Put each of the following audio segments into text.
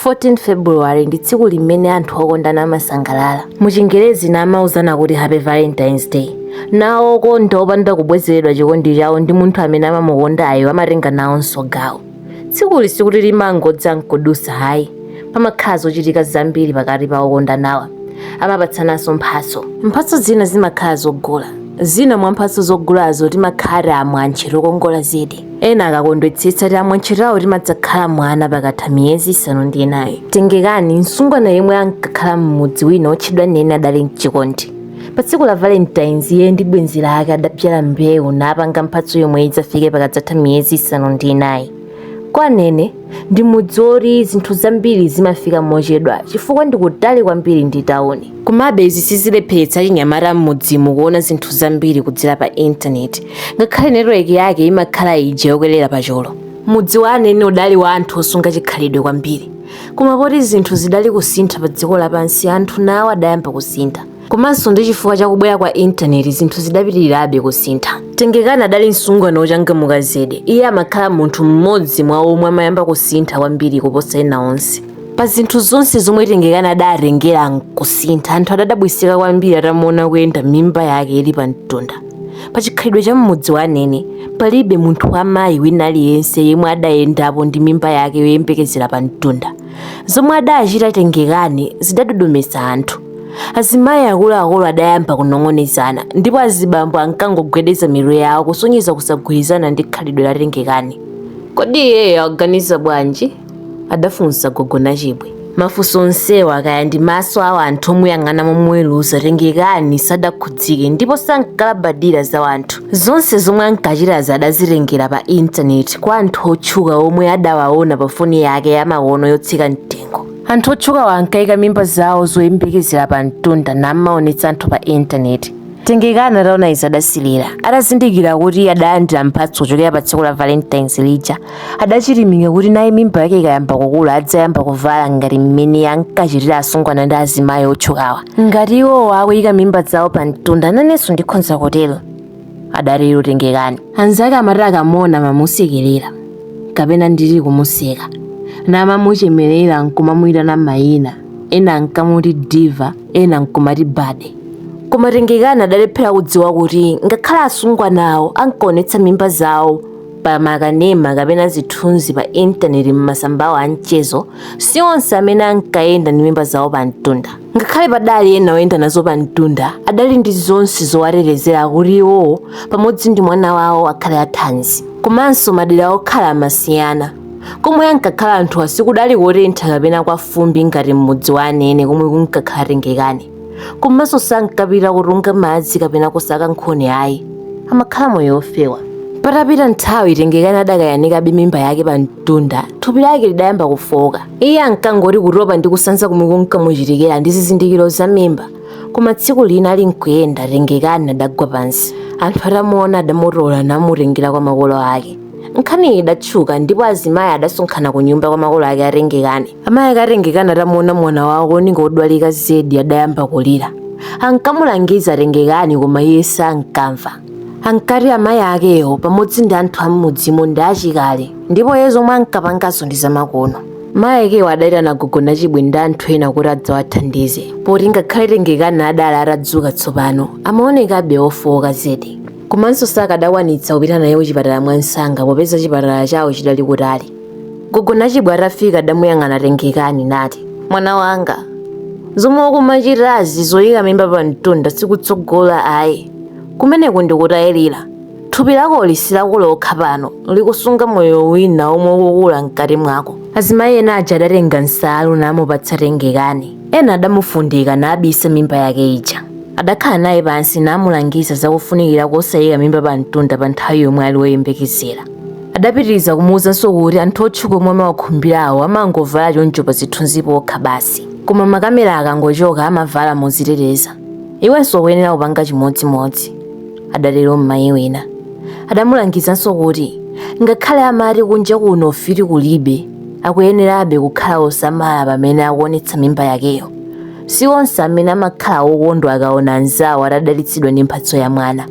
14 February ndi tsiku limene anthu okondana amasangalala. Mu Chingerezi namauzana kuti Happy Valentine's Day. Nawo okonda opanda kubwezeredwa chikondi chawo ndi munthu amene amamukondayo amatenga nawonso gawo. Tsikuli sikuti limangodza nkudusa hayi. Pamakhala zochitika zambiri pakati pa okondanawa. Amapatsananso mphatso. Mphatso zina zimakhala zogula. Zina mwa mphatso zogulazo timakhala tiamwantche tokongola zedi. ena akakondwetsetsa tiamwantche tawo timadzakhala mwana pakatha miyezi isanu ndi inayi tengekani msungwana yemwe ankakhala m'mudzi wina otchedwa anene adali mchikondi pa tsiku la valentines iye ndi bwenzi lake adabzala mbewu napanga mphatso yomwe idzafike pakadzatha miyezi isanu ndi inayi kwa anene ndi mudzi woti zinthu zambiri zimafika mochedwa chifukwa ndi kutali kwambiri ndi tawuni komabe izi sizilepheretsa achinyamata m'mudzimu kuona zinthu zambiri kudzera pa intaneti ngakhale netiweki yake imakhala ija yokwerera pachulu mudzi wa anene udali wa anthu osunga chikhalidwe kwambiri koma poti zinthu zidali kusintha pa dziko lapansi anthu nawo adayamba kusintha komanso ndi chifukwa cha kubwera kwa intaneti zinthu zidapitirirabe kusintha tengekani adali msungwana wochangamuka zedi iye amakhala munthu mmodzi mwa omwe amayamba kusintha kwambiri kuposa ena onse pa zinthu zonse zomwe tengekani adatengera nkusintha anthu adadabwisika kwambiri atamuona akuyenda mimba yake ili pa mtunda pa chikhalidwe cha mmudzi wa anene palibe munthu wa mayi wina aliyense yemwe adayendapo ndi mimba yake yoyembekezera pa mtunda zomwe adachita tengekani zidadodometsa anthu azimayi akuluakulu adayamba kunong'onezana ndipo azibambo ankangogwedeza mitu yawo kusonyeza kusagwirizana ndi khalidwe la tengekani kodi iyeyo akuganiza bwanji adafunsa gogo nachibwe mafunso onsewa kaya ndi maso a wanthu omuyang'ana momuweruza tengekani sadakhudzike ndipo sankalabadira za wanthu zonse zomwe ankachitazi adazitengera pa intaneti kwa anthu otchuka omwe adawaona pa foni yake yamakono yotsika mtengo Anthu otchukawa ankaika mimba zawo zoyembekezera pa mtunda namaonetsa anthu pa intaneti. Tengekani ataona izi adasilira. Atazindikira kuti adalandira mphatso kuchokera pa tsiku la Valentines lija, adachilimika kuti naye mimba yake ikayamba kukula adzayamba kuvala ngati mmene ankachitira asungwana ndi azimayi otchukawa. Ngati iwowo akuika mimba zawo pa mtunda, nanenso ndikhonza kutero. adatero tengekani anzake amati akamona amamusekerera kapena nditi kumuseka namamuchemerera nkumamuyitana mayina ena ankamuti diva ena nkumati baddie koma tengekani adalephera kudziwa kuti ngakhale asungwanawo ankaonetsa mimba zawo pa makanema kapena zithunzi pa intaneti m'masambawo a mchezo si onse amene ankayenda ndi mimba zawo pa mtunda ngakhale padali ena oyenda nazo pa mtunda adali ndi zonse zowatetezera kuti iwowo pamodzi ndi mwana wawo akhale athanzi komanso madera okhala amasiyana komwe ankakhala anthuwa sikudali kotentha kapena kwa fumbi ngati m'mudzi wa anene komwe kunkakhala tengekani komanso sankapita kutunga madzi kapena kusaka nkhuni ayi amakhala moyo ofewa patapita nthawi tengekani adakayanikabe mimba yake pa Tunda thupi lake lidayamba kufowoka. Iye ankangoti kutopa ndi kusanza komwe kunkamuchitikira ndi zizindikiro za mimba. Koma tsiku lina ali nkuyenda Tengekani adagwa pansi. Anthu atamuona adamutola namutengera kwa makolo ake. Nkhaniyi idatchuka ndipo azimayi adasonkhana ku nyumba kwa makolo ake a Tengekani. Amayi ake a Tengekani atamuona mwana wawo kuoneka odwalika zedi adayamba kulira. Ankamulangiza Tengekani koma iye sankamva. Ankati amayi akewo pamodzi ndi anthu am'mudzimo ndi achikale ndipo iye zomwe ankapanganso ndi zamakono. Mayi akewo adaitana gogo Nachibwe ndi anthu ena kuti adzawathandize poti ngakhale Tengekani adali atadzuka tsopano, amaonekabe wofooka zedi. Komanso sakadakwanitsa kupita naye kuchipatala mwansanga popeza chipatala chawo chidali kutali. gogo nachibwe atafika adamuyang'ana tengekani nati mwana wanga zomwe ukumachitazi zoyika mimba pa mtunda sikutsogola ayi kumeneko ndikutayirira thupi lakoli si lako lokha pano likusunga moyo wina omwe ukukula mkati mwako azimayi ena aja adatenga nsalu namupatsa tengekani ena adamufundika nabisa mimba yake ija adakhala naye pansi namulangiza zakufunikira kosayika mimba pa mtunda pa nthawi yomwe ali woyembekezera Adapitiriza kumuuzanso kuti anthu otchuka omwe amawakhumbirawo amangovala choncho pa zithunzi pokha basi, koma makamera akangochoka amavala modziteteza. Iwenso ukuyenera kupanga chimodzimodzi, adatero mmayi wina. Adamulangizanso kuti ngakhale amati kunja kuno ufiti kulibe, akuyenerabe kukhala osamala pamene akuonetsa mimba yakeyo. si onse amene amakhala wokondwa akaona mnzawo atadalitsidwa ndi mphatso ya mwana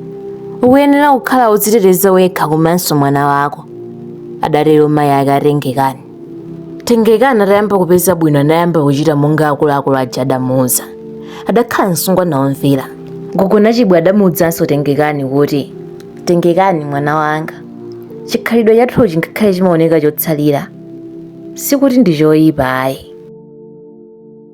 ukuyenera kukhala wodziteteza wekha komanso mwana wako adatero mayi ake a tengekani tengekani atayamba kupeza bwino anayamba kuchita monga akuluakulu aja adamuuza adakhala msungwana womvera gogo nachibwe adamuuzanso tengekani kuti tengekani mwana wanga chikhalidwe chathuchi ngakhale chimaoneka chotsalira sikuti ndi choyipa ayi